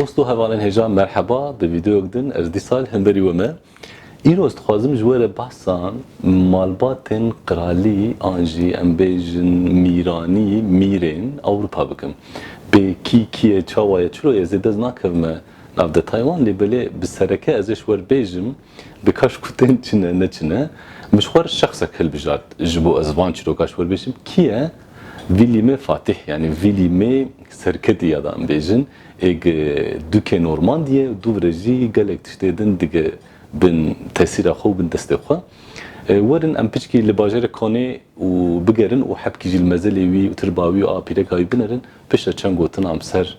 Dost û hevalên hêjan merheba, di vîdeoyek din ez dîsal hemberî we me. Îro ez dixwazim ji we re behsa malbatên qiralî an jî em bêjin mîranî, mîrên Ewropa bikim. Bê kî kî ye, çawa ye, çiro ye zêde ez nakevime nav detay wan lê belê bi sereke ez ê ji we re bêjim, Bi kaş ku tên çi ne, ne çi ne. Min ji xwe re şexsek hilbijart ji bo ez van çîrokan ji xwe re bêjim. Kî ye? Vî lîmê Fatîh yanî vî lîmê serketî ya da em bêjin. Ê gi dûkê Normandiyê û dûv re jî gelek tiştê din dige bin tesîra xwe û bin destê xwe. Werin em piçkî li bajarê Konê û bigerin û hepkî jî li mezelê wî û tirba wî û apîreka wî binerin. Piştre çend gotin am ser.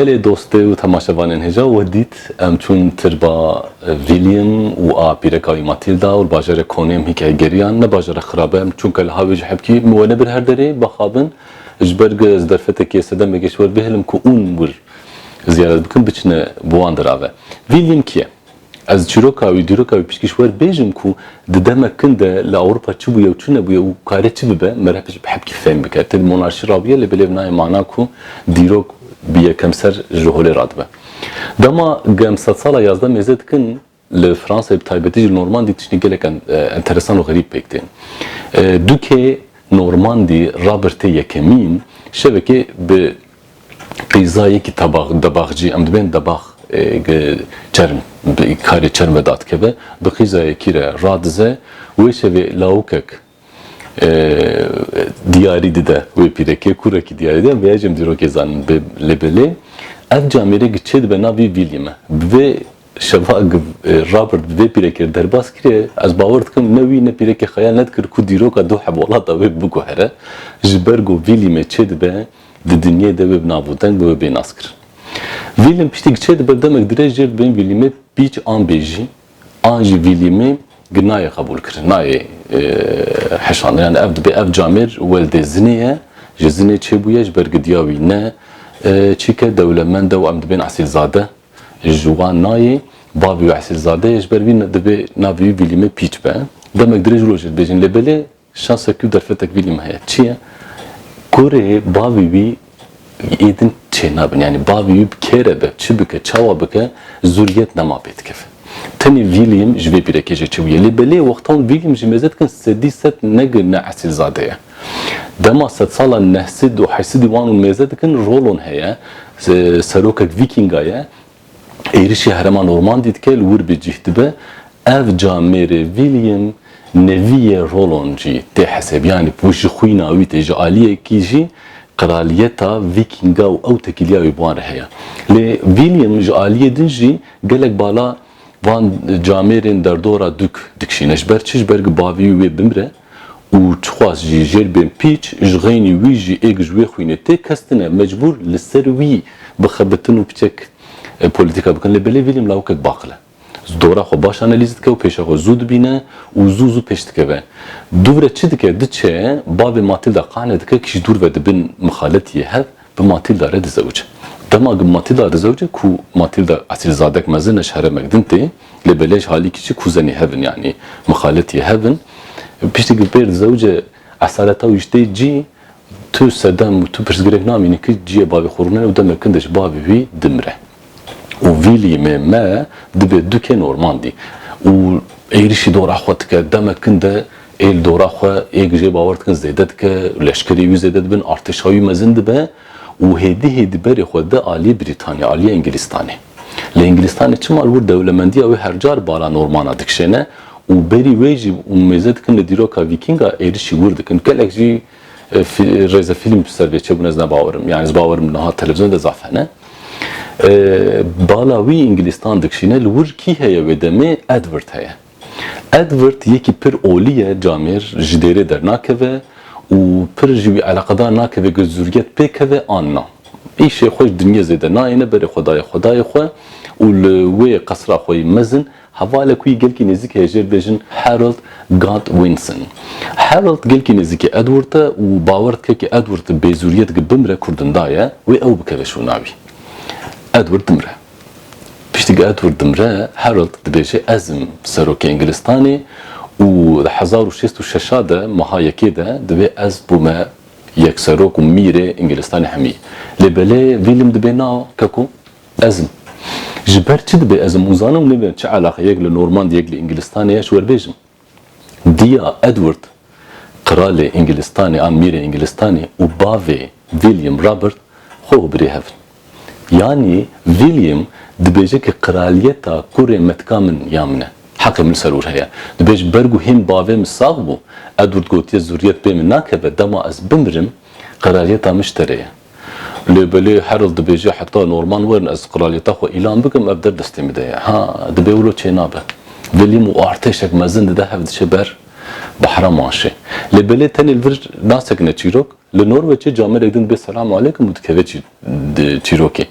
Gelê dostê û temaşevanên hêja we dît. Em çûn tirba William û a pîreka wî Matilda û li bajarê Konê em hîkayê geriyan. Ne bajar e xirab e, em çûn keleha wê ji hepkî min we nebir her derê, bixabin. Ji ber ku ez derfetekê sedemekê ji we bihêlim ku ûn wir ziyaret bikin biçine bi wan dira ve. Vî lîm kî ye? Ez çîroka wî, dîroka wî piştgîş wer bêjim ku di demek kin de li Ewropa çi bûye û çi nebûye û karê çi bibe me re bi hepkî fêm bike. Ti di monarşî re bûye lê belê ev nayê mana ku dîrok bi yekemser ji holê re dibe. Dema ku em sedsala yazdeh mêze dikin Li Fransayê bi taybetî jî normandî tiştên gelek enteresan û xerîb pêk tên. Dûkê normandî rabirte yekemîn şevekê bi qîza yekî tabax, debaxcî, em dibên debax çerm bi karê çerm ve dadikeve, bi qîza yekî re radize. Wê şevê lawikek. diyarî dide wê pîrekê, kurekî diyarî dide, vêya jî em dîrokê zanin. Lê belê ev camêrê gi çê dibe nav vî vîlî me. Bi vê şeva Robert bi vê pîrekê re derbas kiriye, ez bawer dikim ne wî ne pîrekê xeyal nedikir ku dîroka du hevolata wê biguhere. Ji ber ku vîlî me çê dibe di dinyayê de wê bi nav û deng be wê bê naskirin. Vîlî me piştî gi çê dibe demek dirêj jêr dibin vîlî me pîç an bêjî An jî vîlîmê gi nayê qebûl kirin, nayê heşandin. Yani ev dibe ev camêr weldê zinê ye, ji zinê çêbûye ji ber gidiya wî. Ne çîke dewlemend e û em dibên esîlzade ji wan nayê. Bavê wî esîlzade ye ji ber vî dibê navê wî vîlîmê pîç be. Demek dirêj rojê dibêjin lê belê Şansek tu derfetek vî lîm heye. Çi ye? Kurê bavî wî yê din çênabin. Yanî bavî wî bi kê re be, çi bike, çawa bike zûriyet nema pê dikeve. Tenê vî lîm ji vê pîrekê jê çêbûye. Lê belê wextan vî lîm ji mêze dikin sedî sed ne gi ne esîlzade ye. Dema sedsala nehsîd û heysidî wan û mêze dikin rolon heye. Serokek vîkînga ye. Êrişî herêma Normandî dike li wir bi cîh dibe. Ev ca mêrê William neviyê Roland jî tê hesebîyanî ku ji xwîna wî tê ji aliyekî jî qraliyeta Vîkînga û ew tekîliya wî bi wan re heye. Lê William ji aliyê din jî gelek bala van camêrên derdora dûk dikişîne. Ji ber çi? Ji ber ku bavî wî wê bimre. Û çixwaz jî jêr bên pîç, ji xeynî wî jî êg ji wê xwînê tê kestine, mecbûr li ser wî bixebitin û biçek polîtîka bikin. Lê belê William lawikek baqil e. Ji dora xwe baş analîz dike û pêşa xwe zû dibîne û zû zû pêş dikeve. Dûvre çi dike, diçe bavê Matilda qane dike kî ji dûr ve di bin mixaletî yê hev bi Matilda re dizewce. Dema bi Matilda dizewce ku Matilda esilzadek mezin e ji heremek din tê, Lê belej halî kiçik kuzenê hev in yanî mixaletî hev in. Piştî ku pêr zewce esareta wî ji tê cî, tu sedem û tu pirsgirêk namînî ku ciyê bavê xwe rûne û demek kin de ji bavê wî dimire. Û vîlî mê me dibê dukên ormandî û êrişî dora xwe dike. Demek kin de ê li dora xwe ê ku jê bawer dikin zêde dike, leşkerê wî zêde dibin, artêşa wî mezin dibe û hêdî hêdî berê xwe de aliyê Brîtanya, aliyê Engilîstanê. Li Îngilîstanê çima li wir dewlemendiya wê her car bala normana dikişêne û berî wê jî mêze dikin li dîroka Vîkînga êrişî wir dikin. Gelek jî rêzefîlm ji ser vê çêbûn ez ne bawer im. Yanî ez bawer im niha televîzyon de zaf hene. Bala wî Îngilîstan dikişîne li wir kî heye wê demê Edward heye. Edward yekî pir olî ye camêr ji dêrê dernakeve û pir ji wî eleqedar nakeve ku zûrget pê keve an na. Îşê xwe ji dinyê zêde nayêne berê xwe daye xwedayê xwe û li wê qesra xwe yê mezin hevalek wî gelkî nêzîk heye jêr bêjin Harold Godwinson. Harold gelkî nêzîkê Edward e û bawer dike ku Edward bêzûriyet ku bimre kurdindaye wê ew bikeve şûna wî. Edward dimre. Piştî ku Edward dimre, Harold dibêje ez im serokê Îngilîztanê û di hezar û şêst û şeş a de meha yekê de divê ez bûme yekserok û mîrê Îngilîztanê hemî. Lê belê William dibê na ke ku ez im. Ji ber çi dibê ez im û zanim nebe çi eleqe yek li Normand yek li Îngilîztanê ye ji we bêjim. Diya Edward, Qralê Îngilistanê an Mîrê Îngilistanê û bavê William Robert xwe û birê hev in. Yanî William dibêje ke qraliyeta kurê me tika min ya min e. Heqê min li ser wir heye. Dibêje ber ku hîn bavê min sax bû, Edward gotiye zuriyet pê min nakeve, dema ez bimirim qraliyeta min ji te re ye. Lê belê Harold dibêje heta norman werin ez qralyeta xwe îlan bikim ev der destê min de ye. Ha dibê wilo çênabe. William û artêşek mezin dide hev diçe ber bahra manşê. Lê belê tenê li vir nasekine çîrok. Li Norweçê camerek din dibê selam aleykum û dikeve çîrokê.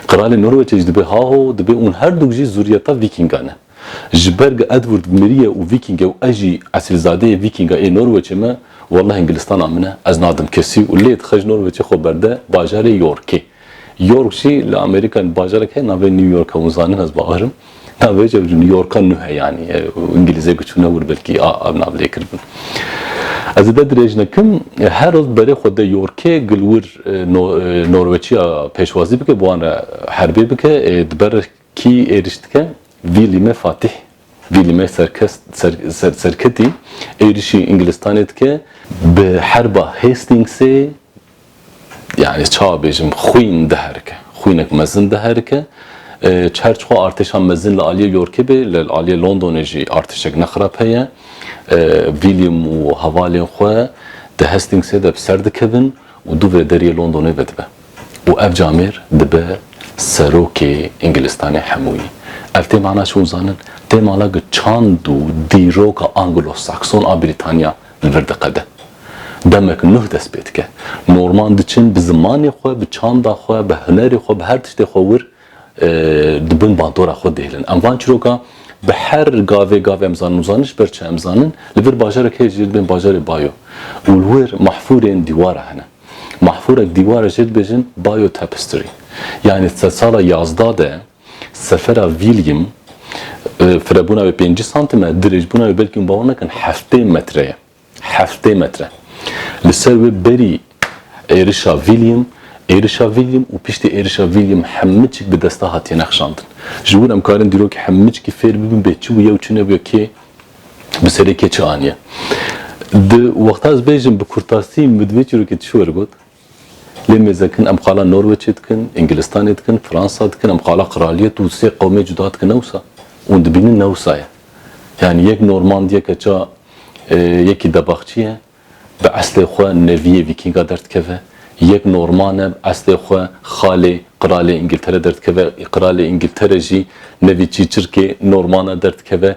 Qralê Norweçê jî dibê haho dibê ûn herdûk jî zûriyeta vîkîngan in. Ji ber ge Edward mirî ye û Vîkîng e û ez jî esilzadeyê Vîkîng a ê Norweçê me, welleh Îngilistana min e, ez nadim kesî û lê dixe ji Norweçê xwe berde bajarê Yorkê. York jî li Amerîkayê ne bajarek heye navê New York e, hûn zanin ez bawer im. Navê ji New Yorka nû heye yanî Îngilîzê ku çûne wir belkî a ev nav lê kiribin. Ez li der dirêj nekim, her roz bi berê xwe de Yorkê gil wir Norweçiya pêşwazî bike bi wan re herbê bike ê di ber Kî êriş dike? Vîlîme Fatîh, Vîlîme Serketî êrişî Îngilistanê dike. Bi herba Hastîngsê yanî çawa bêjim xwîn diherike, xwînek mezin diherike. Çar çixwe artêşa mezin li aliyê Yorkê bê, li aliyê Londonê jî artêşek ne xirab heye. Vîlîm û hevalên xwe di Hastîngsê de bi ser dikevin û dû vê deriyê Londonê vedibe. Û ev camêr dibe serokê Îngilistanê hemûyî. Ev tê mana çi uzanin? Tê mana ku çand û dîroka Anglo-Sakson a Brîtanya li vir diqede. Demek nuh dest pê dike. Norman diçin bi zimanê xwe, bi çanda xwe, bi hunerê xwe, bi her tiştê xwe wir di bin bandora xwe dihêlin. Em van çîroka bi her gavê gavê em zanin û zaniş ber çi em zanin, li vir bajarek heye jê dibên bajarê bayo û li wir mahfûrên dîwara hene. Mahfûrek dîwara jê dibêjin Bayo Tapestry. Yanî di sala yazda de sefera William firebûna wê pêncî santim e, dirêjbûna wê belkî hûn bawer nakin heftê metre ye. Heftê metre. Li ser wê berî êrişa William, êrişa William û piştî êrişa William hemicik bi desta hatiye nexşandin. Ji wir em karin dîrokî hemicikî fêr bibin bê çi bûye û çi nebûye kê bi serê kê çi aniye. Di wexta ez bêjim bi kurtasî min bi di vê çîrokê tu şi werigot? Lê mêzekin em xala Norweçê dikin, Îngilistanê dikin, Fransa dikin, em xala qiraliyet û sê qewmê cuda dikin ne wisa. Hûn dibînin ne wisa ye. Yanî yek Normand yeke ça yekî debaxçî ye bi eslê xwe neviyê vîkînga derdikeve, yek Norman e bi eslê xwe xalê qiralê Îngiltere derdikeve, qiralê Îngiltere jî nevî çîçirkê Norman e derdikeve,